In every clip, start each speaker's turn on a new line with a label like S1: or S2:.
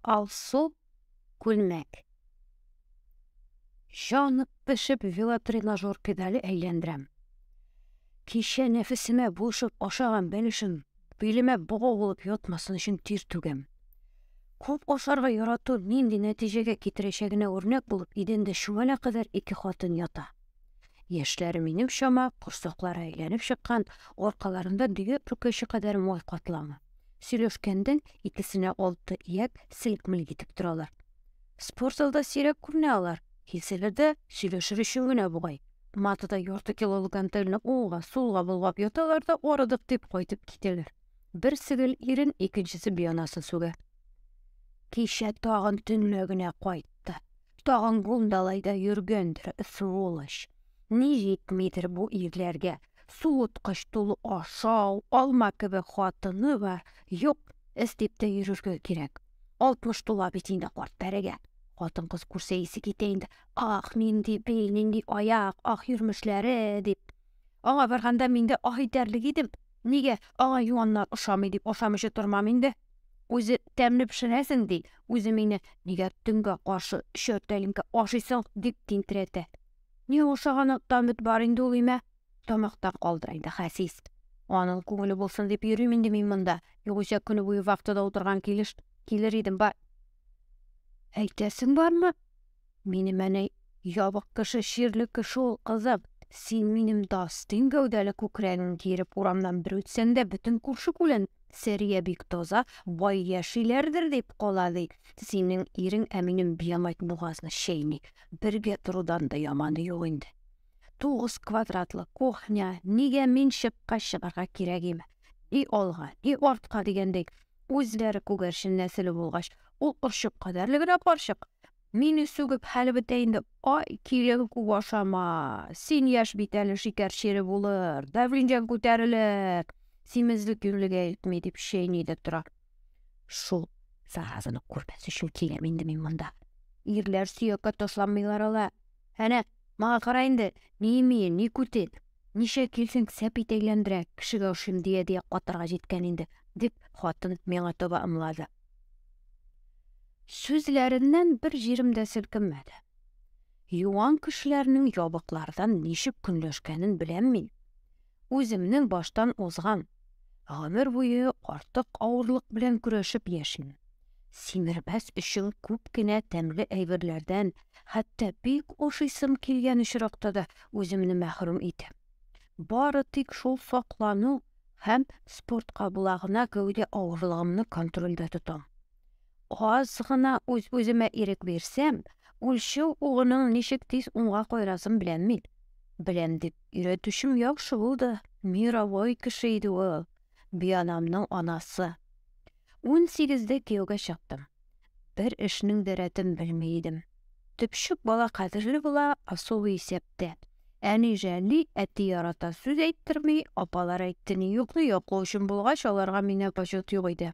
S1: Алсу күлмәк. Җанып пешеп велотренажер педале әйләндерәм. Кичә нәфесемә булышып ашаган бәлешем билемә богау булып ятмасын өчен тир түгәм. Күп ашарга ярату нинди нәтиҗәгә китерәчәгенә үрнәк булып, идәндә чүмәлә кадәр ике хатын ята. Яшьләре минем чама, корсаклары әйләнеп чыккан, аркаларында дөя пүкәче кадәр май катламы. Сөйләшкәндә икесенә алты ияк селк-мелк итеп торалар. Спорт залда сирәк күренә алар, килсәләр дә сөйләшер өчен генә бугай. Матада ярты килолык гантельне уңга, сулга болгап яталар да арыдык дип кайтып китәләр. Берсе гел ирен, икенчесе бианасын сүгә. Кичә тагын төнлә генә кайтты. Тагын бундалайда йөргәндер, сволочь. Ни җитмидер бу ирләргә? Суыткыч тулы ашау, алма кебек хатыны бар. Юк, эз дип тә йөрергә кирәк. Алтмыш тула бит инде карт пәрегә. Хатын-кыз күрсә исе китә инде. Ах, нинди бил, нинди аяк, ах, йөрмешләре, дип. Аңа барганда мин дә ах итәрлек идем. Нигә аңа юаннар ошамый дип ашамыйча тормам инде. үзе тәмле пешерәсең, ди, үзе мине нигә төнгә каршы өчәр тәлинкә ашыйсың, дип тинтерәтә. Ни ашаганың тамет бар инде ул имә, тамактан калдыра инде хәсис. Аның күңеле булсын дип йөрим инде мин монда, югыйсә көне буе вахтада утырган килеш килер идем, бар. Әйтәсең бармы? Минем әни ябык кеше, чирле кеше ул, кызым. Син минем дастин гәүдәле күкрәгең киереп урамнан бер үтсәң дә, бөтен күрше-күлән Сәрия бик таза, бай яшиләрдер дип кала, ди. Синең ирең ә минем биямайт бугазны чәйни. Бергә торудан да яманы юк инде. Тугыз квадратлы кухня, нигә мин чыкка чыгарга кирәгиме? Ни алга, ни артка дигәндәй, үзләре күгәрчен нәселе булгач, ул орчык кадәрле генә карчык. Мине сүгеп хәле бетә инде. Ай, килен күп ашама. Син яшь бит әле шикәр чире булыр, давлениең күтәрелер. Симезлек юньлегә илтми, дип чәйни дә тора. Шул заразаны күрмәс өчен киләм инде мин монда. Ирләр сөяккә ташланмыйлар ала. Әнә, мага кара инде, ни имие, ни күте. Ничә килсен сәпит әйләндерә, кешегә ошыйм дия-дия катырга җиткән инде, дип, хатын миңа таба ымлады. Сүзләреннән бер җирем дә селкенмәде. Юан кешеләрнең ябыклардан ничек көнләшкәнен беләм мин. Үземнең баштан узган. Гомер буе артык авырлык белән көрәшеп яшим. Симермәс өчен күп кенә тәмле әйберләрдән, хәтта бик ашыйсым килгән очракта да үземне мәхрүм итәм. Бары тик шул саклану һәм спорт кабыла гына гәүдә авырлыгымны контрольдә тотам. Аз гына үз-үземә ирек бирсәм, үлчәү угының ничек тиз уңга кайрасын беләм мин. Беләм дип, өйрәтүчем яхшы булды. Мировой кеше иде ул. Бианамның анасы. Унсигездә кияүгә чыктым. Бер эшнең дә рәтен белми идем. Төпчек бала кадерле була, особый исәптә. Әни жәлли, әти ярата, сүз әйттерми, апалар әйттени юкны яклау өчен булгач, аларга миннән почет юк иде.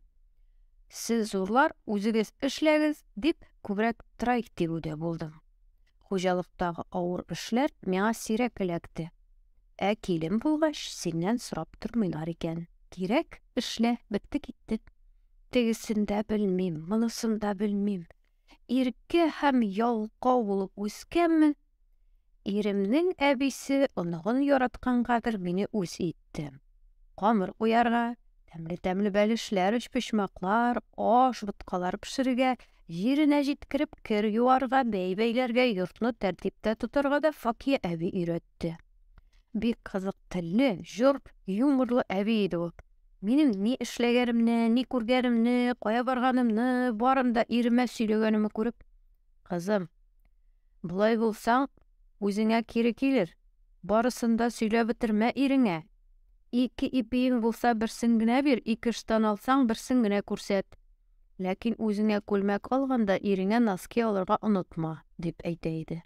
S1: Сез зурлар, үзегез эшләгез, дип, күбрәк трайк тигүдә булдым. Хуҗалыктагы авыр эшләр миңа сирәк эләкте. Ә килен булгач, синнән сорап тормыйлар икән. Кирәк, эшлә, бетте китте. Тегесен дә белмим, монысын да белмим. Иркә һәм ялкау булып үскәнмен. Иремнең әбисе оныгын яраткангадыр мине үз ит. китте. Камыр куярга, тәмле-тәмле бәлешләр, өчпочмаклар, аш, боткалар пешерергә, җиренә җиткереп кер юарга, бәй бәйләргә, йортны тәртиптә тотарга да Факия әби өйрәтте. Бик кызык телле, җор, юморлы әби иде ул. Минем ни эшләгәнемне, ни күргәнемне, кая барганымны, барын да иремә сөйләгәнемне күреп, Кызым, болай булсаң, үзеңә кире килер. Барысын да сөйләп бетермә иреңә. Ике ипиең булса, берсен генә бир, ике ыштан алсаң, берсен генә күрсәт. Ләкин үзеңә күлмәк алганда, иреңә носки алырга онытма, дип әйтә иде.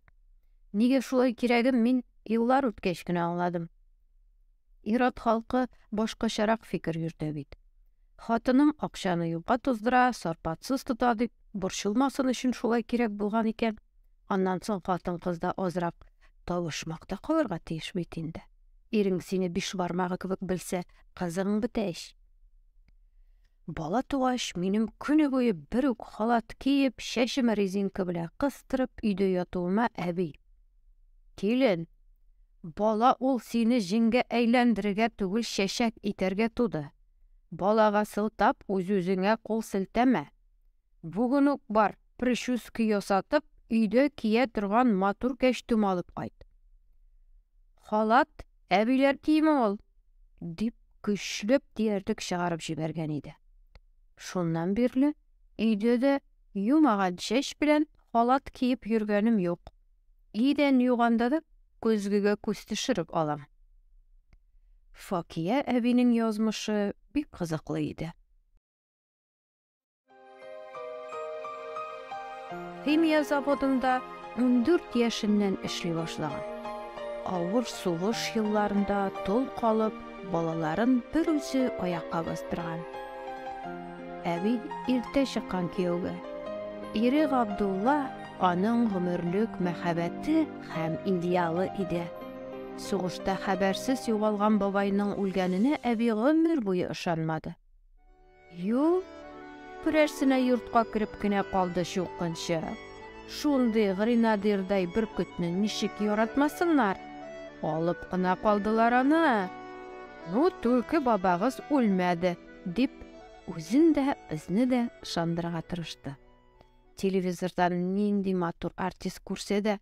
S1: Нигә шулай кирәген мин еллар үткәч кенә аңладым. Ират халкы башкачарак фикер йөртә бит. Хатының акчаны юкка туздыра, сарпатсыз тота дип, борчылмасын өчен шулай кирәк булган икән. Аннан соң хатын-кызда азрак табышмак та калырга тиеш бит инде. Ирең сине биш бармагы кебек белсә, кызың бетә ич. Бала тугач, минем көне буе бер үк халат киеп, чәчемә резинка белән кыстырып, өйдә ятуыма әби, Килен, бала ул сине җиңгә әйләндерергә түгел чәчәк итәргә туды. Балага сылтап үз-үзеңә кул селтәмә. Бүген үк бар, причуски ясатып, өйдә кия торган матур кәчтүм алып кайт. Халат әбиләр киеме ул! дип көчләп диярдек чыгарып җибәргән иде. Шуннан бирле өйдә дә юмаган чәч белән халат киеп йөргәнем юк. Идән юганда да көзгегә күз төшереп алам. Факия әбинең язмышы бик кызыклы иде. Химия заводында 14 яшеннән эшли башлаган. Авыр сугыш елларында тол калып, балаларын бер үзе аякка бастырган. Әби иртә чыккан кияүгә. Ире Габдулла Аның гомерлек мәхәббәте һәм идеалы иде. Сугышта хәбәрсез югалган бабайның үлгәненә әби гомер буе ышанмады. Ю, берәрсенә йортка кереп кенә калды чукынчы. Шундый гренадирдай бөркетне ничек яратмасыннар? Алып кына калдылар аны. Ну, түлке бабагыз үлмәде, дип, үзен дә, безне дә ышандырырга тырышты. телевизордан нинди матур артист күрсә дә,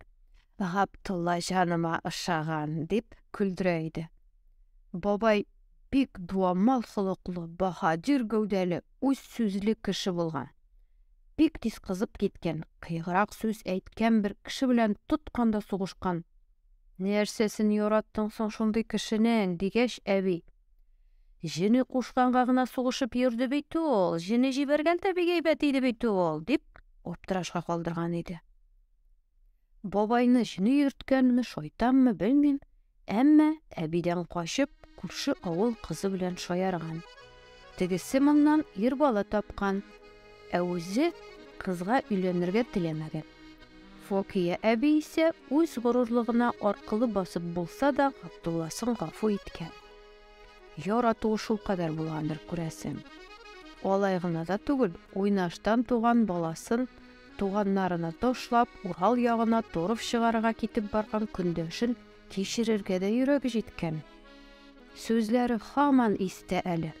S1: Габдулла җаныма ошаган, дип көлдерә иде. Бабай бик дуамал холыклы, баһадир гәүдәле, үз сүзле кеше булган. Бик тиз кызып киткән, кыеграк сүз әйткән бер кеше белән тотканда сугышкан. Нәрсәсен яраттың соң шундый кешенең, дигәч, әби, Җене кушканга гына сугышып йөрде бит ул, җене җибәргәндә бик әйбәт иде бит ул, дип аптырашка калдырган иде. Бабайны җене йөрткәнме, шайтанмы, белмим, әмма әбидән качып, күрше авыл кызы белән шаярган. Тегесе моннан ир бала тапкан, Ә үзе кызга өйләнергә теләмәгән. Фокия әби исә үз горурлыгына аркылы басып булса да Габдулласын гафу иткән. Яратуы шулкадәр булгандыр, күрәсең. Алай гына да түгел, уйнаштан туган баласын туганнарына ташлап, Урал ягына торф чыгарырга китеп барган көндәшен Кичерергә дә йөрәге җиткән. Сүзләре һаман истә әле.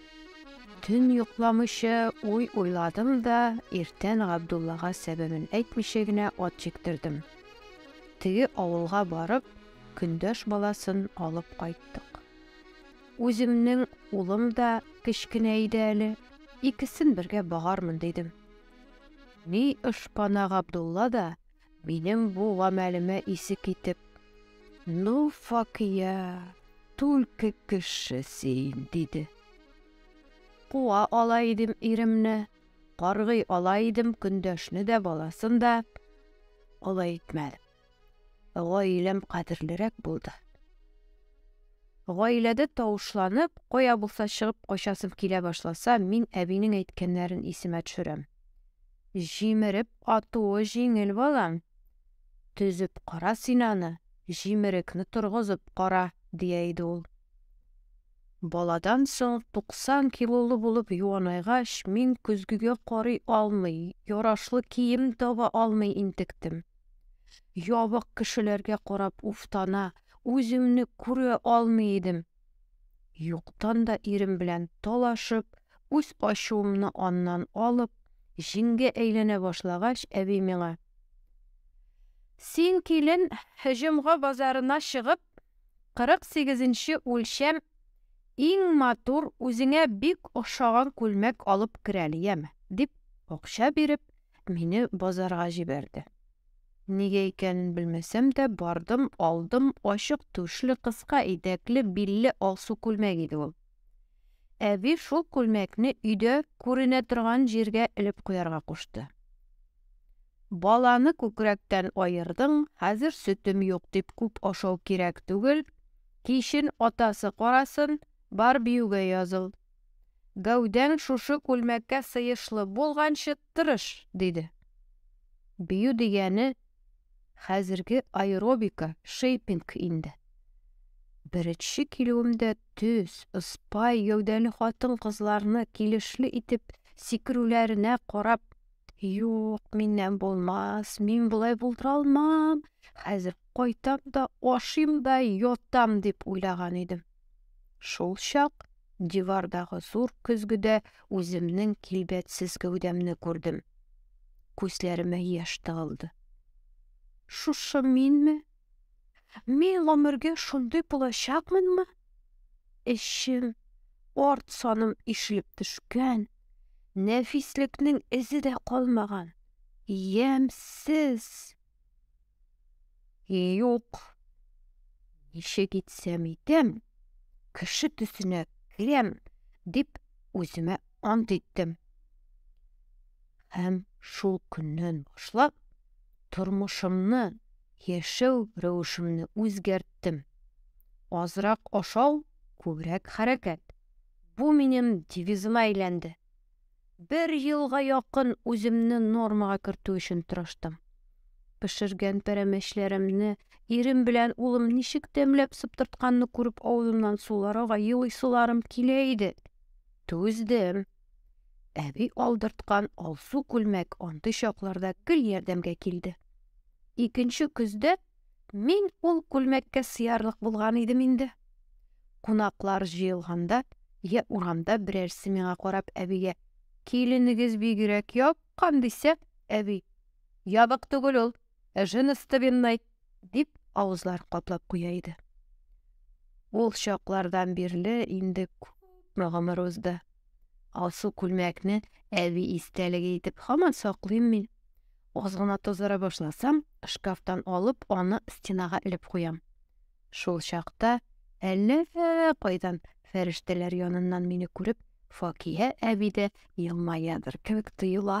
S1: Төн йокламыйча уй уйладым да, иртән Габдуллага сәбәбен әйтмичә генә ат җиктердем. Теге авылга барып, көндәш баласын алып кайттык. Үземнең улым да кечкенә иде әле, икесен бергә багармын дидем. Ни ышпана Габдулла да Минем бу гамәлемә исе китеп, Ну, Факия, түлке кеше син, диде. Куа ала идем иремне, каргый ала идем көндәшне дә, баласын да. Алай итмәдем. Гаиләм кадерлерәк булды. Гаиләдә тавышланып, кая булса чыгып качасым килә башласа, мин әбинең әйткәннәрен исемә төшерәм. Җимереп атуы җиңел, балам. Төзеп кара син аны, җимерекне торгызып кара, дия иде ул. Баладан соң туксан килолы булып юанайгач, мин көзгегә карый алмый, ярашлы кием таба алмый интектем. Ябык кешеләргә карап уфтана, үземне күрә алмый идем. Юктан да ирем белән талашып, үз ачуымны аннан алып, җиңгә әйләнә башлагач, әби миңа. Син, килен, җомга базарына чыгып, 48 нче үлчәм иң матур, үзеңә бик ошаган күлмәк алып керәле, яме, дип акча биреп, мине базарга җибәрде. Нигә икәнен белмәсәм дә, бардым, алдым, ачык түшле, кыска итәкле, билле алсу күлмәк иде ул. Әби шул күлмәкне өйдә күренә торган җиргә элеп куярга кушты. Баланы күкрәктән аердың, хәзер сөтем юк дип күп ашау кирәк түгел, кичен атасы карасын, бар биюгә языл, Гәүдәң шушы күлмәккә сыешлы булганчы тырыш, диде. Бию дигәне хәзерге аэробика, шейпинг инде. Беренче килүемдә төз, ыспай гәүдәле хатын-кызларны килешле итеп сикерүләренә карап, Юк, миннән булмас, мин болай булдыра алмам, хәзер кайтам да, ашыйм да, ятам, дип уйлаган идем. Шул чак дивардагы зур көзгедә үземнең килбәтсез гәүдәмне күрдем. Күзләремә яшь тыгылды. Шушы минме? Мин гомергә шундый булачакмынмы? Эчем, арт саным ишелеп төшкән, нәфислекнең эзе дә калмаган. Ямсез! Юк. Ничек итсәм итәм, кеше төсенә керәм, дип үземә ант иттем. Һәм шул көннән башлап тормышымны, яшәү рәвешемне үзгәрттем. Азрак ашау, күбрәк хәрәкәт. Бу минем девизыма әйләнде. Бер елга якын үземне нормага кертү өчен тырыштым. Пешергән пәрәмәчләремне, ирем белән улым ничек тәмләп сыптыртканны күреп авызымнан сулар ага, елыйсыларым килә иде. Түздем. Әби алдырткан алсу күлмәк андый чакларда гел ярдәмгә килде. Икенче көздә Мин ул күлмәккә сыярлык булган идем инде. Кунаклар җыелганда, я урамда берәрсе миңа карап әбигә, Киленегез бигрәк япкан, дисә, әби, Ябык түгел ул, женостовенный, дип авызлар каплап куя иде. Ул чаклардан бирле инде күпме гомер узды. Алсу күлмәкне әби истәлеге итеп һаман саклыйм мин. Аз гына тазара башласам, шкафтан алып, аны стенага элеп куям. Шул чакта әллә кайдан фәрештәләр яныннан мине күреп, Факия әби дә елмаядыр кебек тоела.